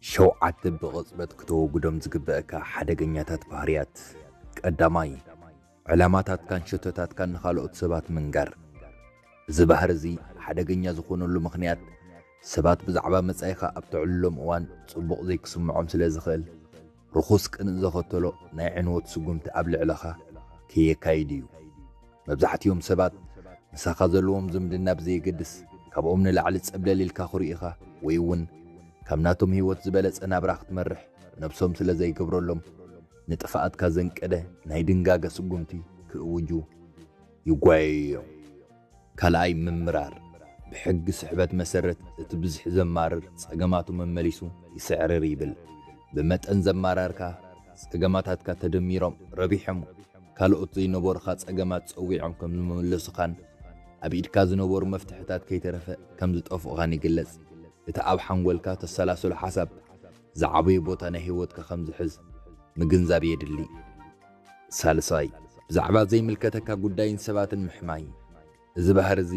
ሸውዓተ ብቕጽበት ክተወግዶም ዝግበእካ ሓደገኛታት ባህርያት። ቀዳማይ፣ ዕላማታትካን ሸቶታትካን ንኻልኦት ሰባት ምንጋር። እዚ ባህሪ እዚ ሓደገኛ ዝኾነሉ ምኽንያት፣ ሰባት ብዛዕባ መጻኢኻ ኣብ ተዕልሎም እዋን ጽቡቕ ዘይክስምዖም ስለ ዝኽእል። ርኹስ ቅንእ ዘኸተሎ ናይ ዕንወት ስጉምቲ ኣብ ልዕለኻ ከየካይድ እዩ። መብዛሕቲኦም ሰባት ምሳኻ ዘለዎም ዝምድና ብዘየገድስ ካብኦም ንላዕሊ ጸብለል ኢልካ ክርኡኻ ወይ እውን ካብ ናቶም ህይወት ዝበለጸ ናብራ ክትመርሕ ነብሶም ስለ ዘይገብረሎም ንጥፍኣትካ ዘንቀደ ናይ ድንጋገ ስጉምቲ ክእውጁ ይጓየዩ እዮም። ካልኣይ ምምራር፣ ብሕጊ ስሕበት መሰረት እቲ ብዝሒ ዘማርር ጸገማቱ መመሊሱ ይስዕርር ይብል። ብመጠን ዘማራርካ ጸገማታትካ ተደሚሮም ረቢሖም ካልኦት ዘይነበሩኻ ጸገማት ጸዊዖም ከም ዝመለሱኻን ኣብ ኢድካ ዝነበሩ መፍትሕታት ከይተረፈ ከም ዝጠፍኡኻን ይግለጽ። እቲ ኣብ ሓንጎልካ ተሰላስሎ ሓሳብ ዝዓበዩ ቦታ ናይ ህይወትካ ከም ዝሕዝ ምግንዛብ የድሊ። ሳልሳይ፣ ብዛዕባ ዘይምልከተካ ጉዳይን ሰባትን ምሕማይ። እዚ ባህሪ እዚ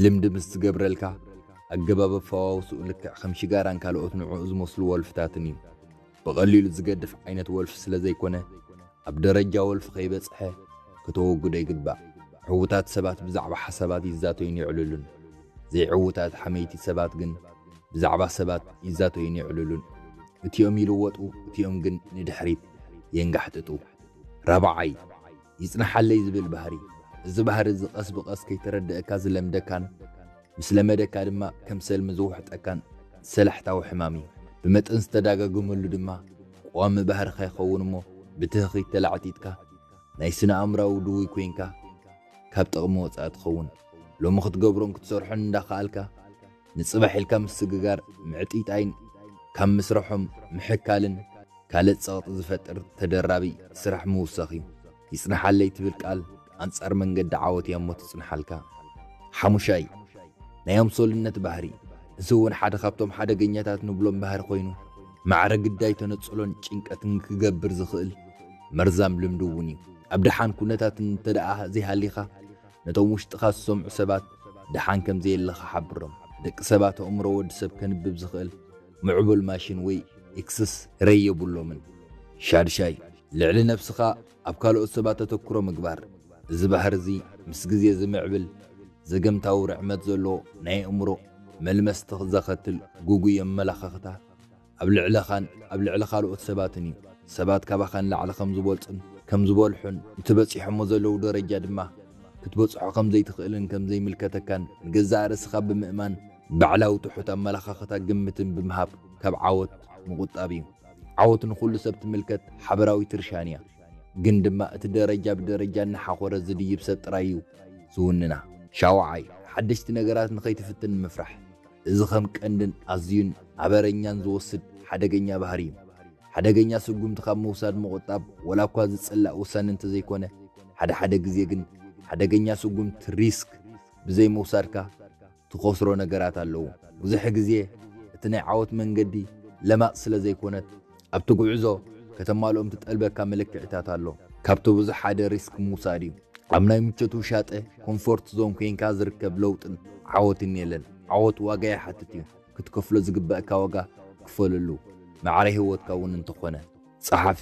ልምዲ ምስ ዝገብረልካ፣ ኣገባብ ኣፈዋውስኡ ልክዕ ከም ሽጋራን ካልኦት ንዕኡ ዝመስሉ ወልፍታትን እዩ። ብቐሊሉ ዝገድፍ ዓይነት ወልፊ ስለ ዘይኮነ፣ ኣብ ደረጃ ወልፊ ከይበጽሐ ከተወግዶ ይግባእ። ዕዉታት ሰባት ብዛዕባ ሓሳባት ይዛተዩን የዕልሉን። ዘይዕዉታት ሓመይቲ ሰባት ግን ብዛዕባ ሰባት ይዛተዩን የዕልሉን። እቲኦም ይልወጡ፣ እቲኦም ግን ንድሕሪት። የንጋሕጥጡ። ራብዓይ፣ ይጽንሓለይ ዝብል ባህሪ፣ እዚ ባህሪ እዚ ቐስ ብቐስ ከይተረደኣካ ዝለምደካን ምስ ለመደካ ድማ ከም ሰልሚ ዝውሕጠካን ሰላሕታዊ ሕማም እዩ። ብመጠን ዝተዳጋገመሉ ድማ ቐዋሚ ባህርኻ ይኸውን እሞ ብትህኺት ተላዕጢጥካ ናይ ስነ-ኣእምራዊ ድውይ ኮይንካ ካብ ጥቕሚ ወጻኢ ትኸውን። ሎሚ ክትገብሮን ክትሰርሖን እንዳኸኣልካ፣ ንጽባሕ ኢልካ ምስግጋር ምዕጢጣይን ካብ ምስርሖም ምሕካልን ካልእ ጸቕጢ ዝፈጥር ተደራቢ ስራሕ ምውሳኽ እዩ። ይጽንሓለይ ትብል ቃል ኣንጻር መንገዲ ዓወት እያ እሞ ትጽንሓልካ። ሓሙሻይ፣ ናይ ኣምሶልነት ባህሪ፣ እዚ እውን ሓደ ካብቶም ሓደገኛታት ንብሎም ባህሪ ኮይኑ፣ ማዕረ ግዳይ ተነጽሎን ጭንቀትን ክገብር ዝኽእል መርዛም ልምዲ እውን እዩ። ኣብ ደሓን ኩነታት እንተደኣ ዘይሃሊኻ፣ ነቶም ውሽጥኻ ዝሰምዑ ሰባት ደሓን ከም ዘየለኻ ሓብሮም። ደቂ ሰባት ኣእምሮ ወዲ ሰብ ከንብብ ዝኽእል ምዕቡል ማሽን ወይ ኤክስስ ረይ የብሎምን። ሻድሻይ፣ ልዕሊ ነብስኻ ኣብ ካልኦት ሰባት ኣተኩሮ ምግባር። እዚ ባህሪ እዚ ምስ ግዜ ዝምዕብል ዘገምታዊ ርዕመት ዘለዎ ናይ ኣእምሮ መልመስቲ ዘኸትል ግጉይ ኣመለኻኽታ፣ ኣብ ልዕለኻን ኣብ ልዕሊ ካልኦት ሰባትን እዩ። ሰባት ካባኻ ንላዕሊ ከም ዝበልጹን ከም ዝበልሑን እቲ በጺሖሞ ዘለዉ ደረጃ ድማ ክትበጽሖ ከም ዘይትኽእልን ከም ዘይምልከተካን ንገዛእ ርእስኻ ብምእማን ባዕላዊ ትሑት ኣመለኻኽታ ግምትን ብምሃብ ካብ ዓወት ምቑጣብ እዩ። ዓወት ንኹሉ ሰብ ትምልከት ሓበራዊት ርሻን እያ። ግን ድማ እቲ ደረጃ ብደረጃ እናሓኾረ ዝድይብ ሰብ ጥራይ እዩ ዝውንና። ሻውዓይ፣ ሓደሽቲ ነገራት ንኸይትፍትን ምፍራሕ። እዚ ኸም ቀንድን ኣዝዩን ኣበረኛን ዝወስድ ሓደገኛ ባህሪ እዩ። ሓደገኛ ስጉምቲ ካብ ምውሳድ ምቑጣብ ወላ እኳ ዝጽላእ ውሳነ እንተዘይኮነ፣ ሓደ ሓደ ግዜ ግን ሓደገኛ ስጉምቲ፣ ሪስክ፣ ብዘይምውሳድካ ትኸስሮ ነገራት ኣለዉ። ብዙሕ ግዜ እቲ ናይ ዓወት መንገዲ ለማጽ ስለዘይኮነት፣ ኣብቲ ጉዕዞ ከተማልኦም ትጠልበካ መለክዒታት ኣሎ። ካብቲ ብዙሕ ሓደ ሪስክ ምውሳድ እዩ። ኣብ ናይ ምቾት ውሻጠ፣ ኮምፎርት ዞን፣ ኮይንካ ዝርከብ ለውጥን ዓወትን የለን። ዓወት ዋጋ ይሓትት እዩ። ክትከፍሎ ዝግበእካ ዋጋ ክፈለሉ። ማዕረ ህይወትካ እውን እንተኾነ። ጸሓፊ።